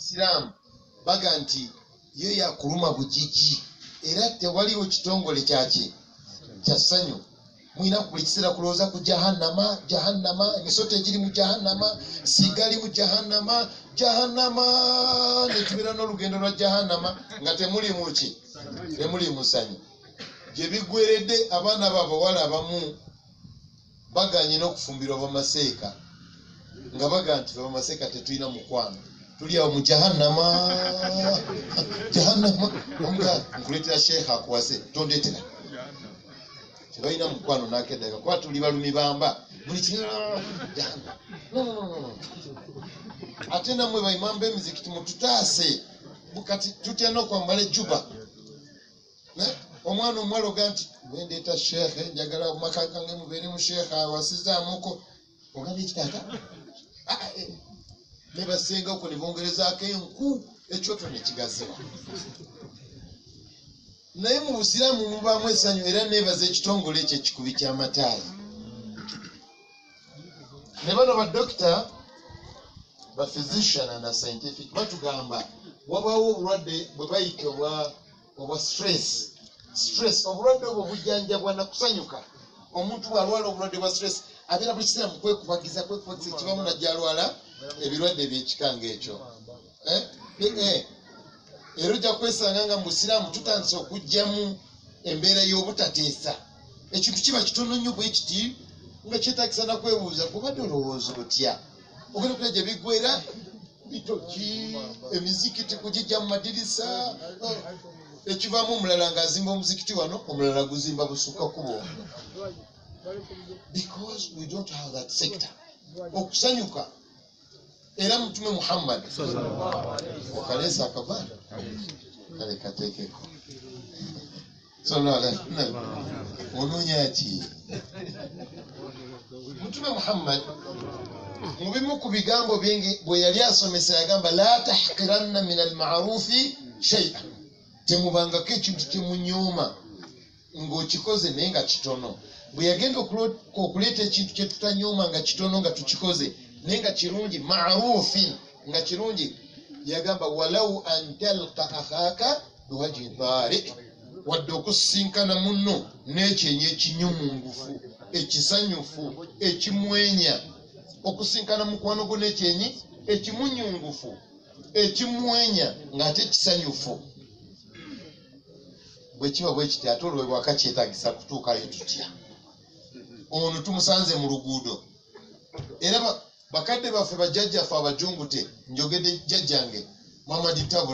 siramu baga nti yo yakuluma bujiji era tewaliwo kitongole kyaki kya ssanyu mulina buli kiseera kulowooza ku jahannama jahannama emisota egiri mu jahannama sigali mu jahannama jahannama netubeera n'olugendo lwa jahannama nga temuli muki temuli musanyu gye bigweredde abaana babawala abamu baganye n'okufumbirwa bamaseeka nga baga nti fe bamaseeka tetulina mukwano tuli awo mu jahannama jahannama omuga nkuleetera sheekha akuwase tondetera tebalina mukwano nakedaga kuba tuli balumi bamba buli ki ate namwe baimamba emizikiti mututaase bukati tutya nokwambala ejuba Eh? omwana omuwala oga nti wendeeta sheekhe njagala maka gange mubeere mu sheekhe awasizaamuko ogambye kitaata ah, eh. ne basenga oku ne bongerezaako enku ekyoto ne kigaziwa naye mu busiraamu mubaamu essanyu era neebaza ekitongole ekyo ekikubi ky'amataayi ne bano badokita baphysician and scientific batugamba wabaawo obulwadde bwe bayita obwa obwa stress stress obulwadde obwo bujjanjabwa na kusanyuka omuntu bw'alwala obulwadde bwa stress abeera buli kiseera mu kwekubagiza kwekubagiza ekibamu najja alwala ebirwadde ebyekika ng'ekyo eh? eh. era ojja kwesanga nga musiraamu tutandise okugyamu embeera y'obutateesa ekintu kiba kitono nnyo bwe kiti nga kyetagisa nakwebuuza kubadde olowooza otya ogenda okula gye biggwera bitoki emizikiti kugijja mu madirisa oh, ekivaamu omulala nga azimba omuzikiti wano omulala guzimba busukka kubo because we don't have that sector okusanyuka era mutume muhammad okaleesa akavaana kale kateekeko Sallallahu alaihi wasallam. onoonya ki mutume muhammad mu bimu ku bigambo bingi bwe yali asomesa yagamba la tahqiranna min almarufi shaia temubangako ekintu kyemunyooma ng'okikoze naye nga kitono bwe yagenda okulo- okuleeta ekintu kye tutanyooma nga kitono nga tukikoze naye nga kirungi marufin nga kirungi yagamba walau an talqa akhaka biwaji baale wadde okusisinkana munno n'ekyenyi ekinyumungufu ekisanyufu ekimwenya okusinkana mukwano gwo n'ekyenyi ekimunyungufu ekimwenya ng'ate kisanyufu bwe kiba bwe kiti ate olwo ewaka kyetagisa kutuukayo tutya ono tumusanze mu luguudo era bakadde baffe bajjajjaffe abajungute njogedde jjajjange mamaditabula